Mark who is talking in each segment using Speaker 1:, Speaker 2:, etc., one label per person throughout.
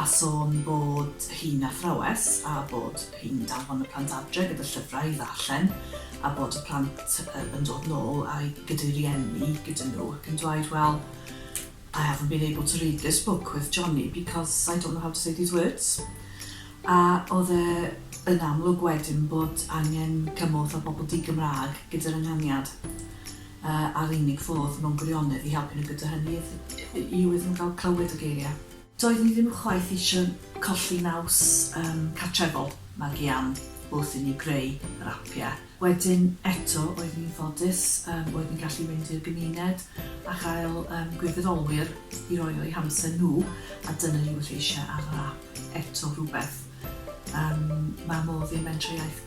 Speaker 1: a sôn bod hi'n athrawes a bod hi'n danfon y plant adre gyda llyfrau i ddarllen a bod y plant yn dod nôl a'u gyda'i rieni gyda nhw ac yn dweud well I haven't been able to read this book with Johnny because I don't know how to say these words a oedd e yn amlwg wedyn bod angen cymorth o bobl di-Gymraeg gyda'r ynganiad a'r unig fodd mewn gwirionedd i helpu nhw gyda hynny yw iddyn nhw gael clywed y geiriau. Doeddwn i ddim chwaith eisiau colli naws yym cartrefol magu Ann wrth i ni greu yr apiau. Wedyn eto oeddwn i'n ffodus yym oedd ni'n gallu mynd i'r gymuned a chael yym gwirfoddolwyr i roi o'u hamser nhw a dyna ni wrth eisiau ar yr ap eto rhywbeth yym ma' modd i'r Mentrau Iaith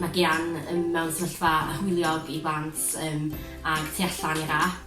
Speaker 2: Mae Gian ym mewn sefyllfa hwyliog i blant ym ag tu allan i'r ap.